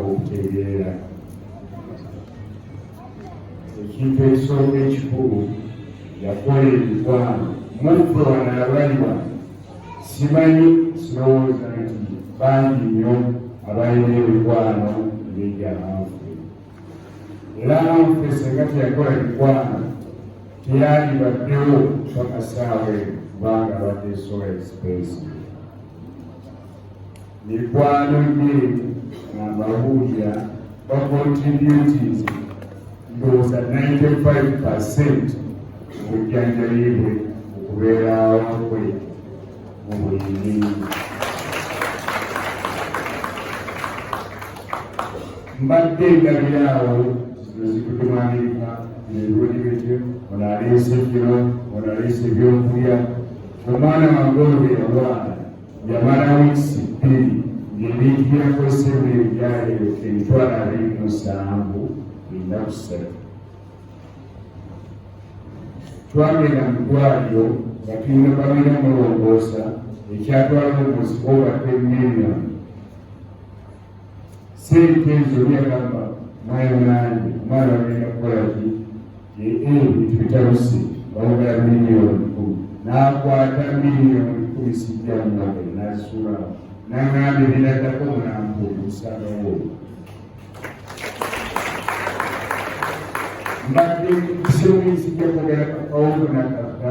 okutegeera ekintu ekisooka ekikulu yakola emikwano muffe wano abaliwa simanyi sirowooza nti bangi nnyo abalina emikwano ng'egyabantu era nfe senga teyakola mikwano teyalibaddewo mpaka saawa eno kubanga abadde sola expensive mikwano gye ng'ababuulira bakontributinze ndowooza 95 percent obujjanjabi bwe okubeerawo kwe mu buli ngeri mbadde ndabira awo zizikude mu amerika nebirungi bityo ono aleese kiro ono aleese ebyokulya omwana wange ono beyalwala yamala wiikisi bbiri ng'ebintu byakozesebwa ebyali emitwalo abiri mu musanvu enda kusatu twagenda mu ddwaliro nga tulina balina mulongoosa ekyatwala omuzi obadde million sente ezo byagamba mwayo nange omwana agenda kukola ki ebintu bitabuse bawogera miliyoni kumi nakwata miliyoni kumi sijja mumagere nazisula nangamba ebinaddako mulambo omusagawo mbadde kusomuyisijja kwogera kakawongo nakaka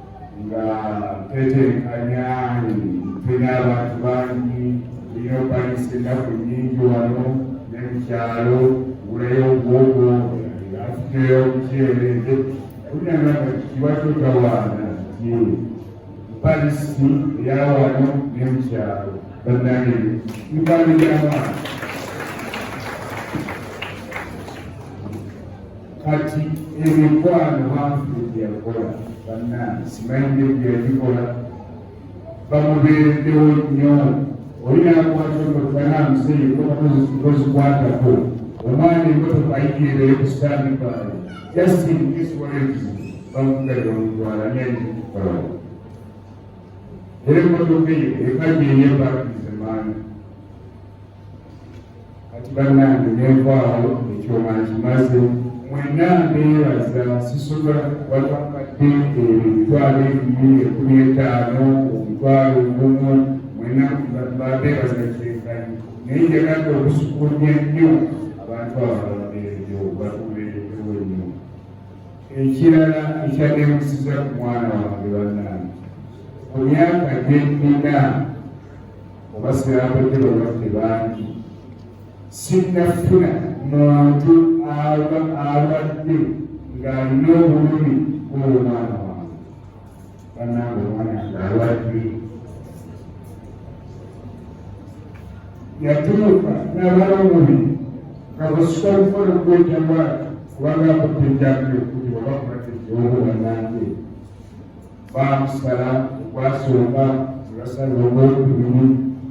nga tetenkanya tulina abantu bangi tulina okwalisa ennaku nyingi wano ne mukyalo gulayo obwogo atuteyo omuceere kulinagamba kiwa kyotawaana ti palisi eyawano ne mukyalo bannange mikwano gy'abaana kati emikwano bantu byeyakola bannange simanyidde byeyagikola bamubeereddewo nnyo oli nakwata emotokana museye kozikwatako omwana emotoka ayigirire ku sitani baale justin kiswalezi bamugalira omutwala nyanikukola era emotoka eyo ekajeyebakizemaani kati bannange nenvaawo ekyoma nkimaze mwenna mbeebaza sisobola watamadde ebyo emitwalo ebiri ekumi etaano omutwalo ogumu mwenna mbeebaza kyenkanyi naye njagadde okusukulumya nnyo abantu abababeereyo batubeereyo nnyo ekirala ekyaneemusiza ku mwana wange bannange ku myaka gye nnina oba sirambadde balwadde bangi sinnafuna muntu aba abadde ng'alina obulumi bw'omwana wange banange omwana ng'alwadde yatuuka n'abala omubiri nga bwesika okukola okwejawa kubanga akutte enjambi okuli oba kubateeobuwanange baamusala okwasooka nebasala ogwokubiri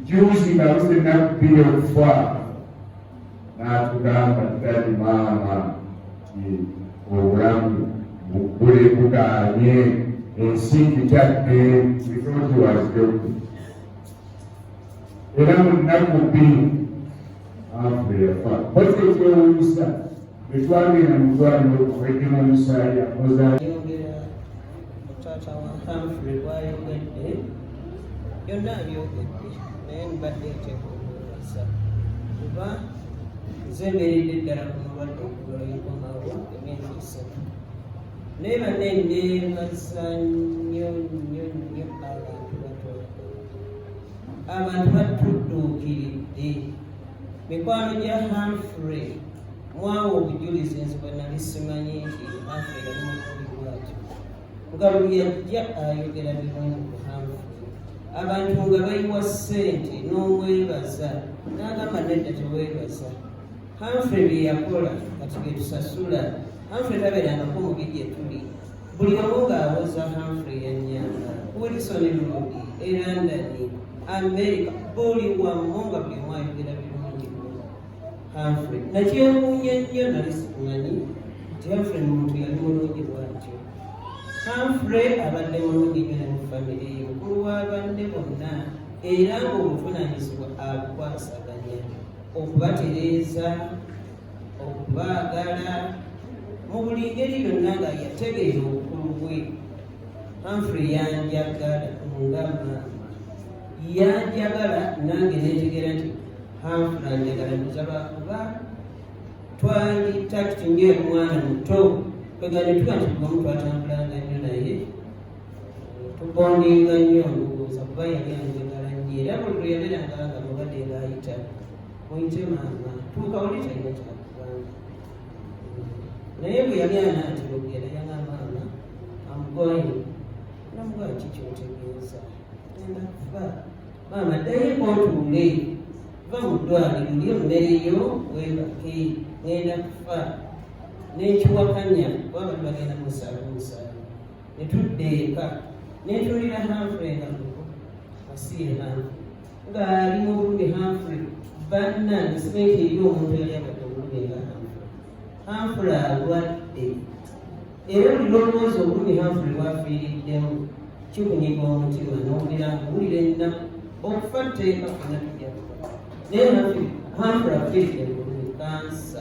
juuzi nga buze ennaku bbiri okufa n'atugamba ddali maama ti obulamu buggule bugaanye ensi nkitadde bitooti wazidokku era mu nnaku bbiri afe yafa bwatyo twewunyisa bwetwagenda mu ddwaliro okwegema omusaayi akoza yogera mutaata wa Humphrey bwayogedde byonna abyogedde naye mbadde ntekoowooza kuba nze mbeeredde ddala ku mulwadde okulo yenkomawo emyezi esatu naye banne neebaza nnyo nnyo nnyo abantu abantu batudduukiridde mikwano gya Humphrey mwawa obujulizi nze bwe nali simanyi nti Humphrey yali mukubi bwatyo nga buli yajja ayogera birungi ku Humphrey abantu nga bayiwa ssente n'omwebaza n'agamba nedda teweebaza Humphrey bye yakola kati bye tusasula Humphrey tabeerangako mu bi gye tuli buli wamu ng'abuuza Humphrey Yanyanga, Wilson Lumogi, Erandani, Amerika, buli wamu nga buli omu ayogera birungi Humphrey. Nakyewuunya nnyo nali simanyi nti Humphrey muntu yali mulungi bwatyo. Humphrey abadde mulungi nnyo ne mu famire ye, mukulu w'abanne bonna era ng'obuvunaanyizibwa abukwasaganya okubatereeza okubaagala mu buli ngeri yonna nga yategeera obukulu bwe Humphrey yanjagala nga maama yanjagala nange netegera nti Humphrey anjagala muzaba kuba twali takiti ngaomwana muto kwegane tuba nti kubamu twatambulanga nnyo naye tubondinga nnyo ndowooza kuba yali anjagala nnyo era buli lwe yaberanga nga mubadde ngaayita naye bwe yali anaatera okugenda yagamba nga amugoyi namuga ki kyotegeeza genda kufa maama ddayo ekotuule va mu ddwaliro lyo mmere yo webake ngenda kufa n'ekiwakanya baba tubagenda musala omusala ne tudda eka ne tuwulira hanfrey nga muko asiye hanfrey ng'ali mu bulumi Humphrey bannange simanyi nti eri omuntu yali abadde obulumi nga Humphrey Humphrey alwadde era buli lwolowooza obulumi Humphrey bwafiiriddemu kikunyiga omutima n'owulira nkuwulira ennaku okufa tteeka fena tujja naye Humphrey afiiridde mu bulumi kansa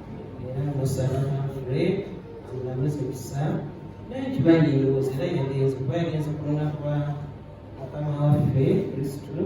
era musaba mangule amaze kusa naye kibanyirowoza era yagenze kuba yagenze ku lunaku lwa mukama waffe kristu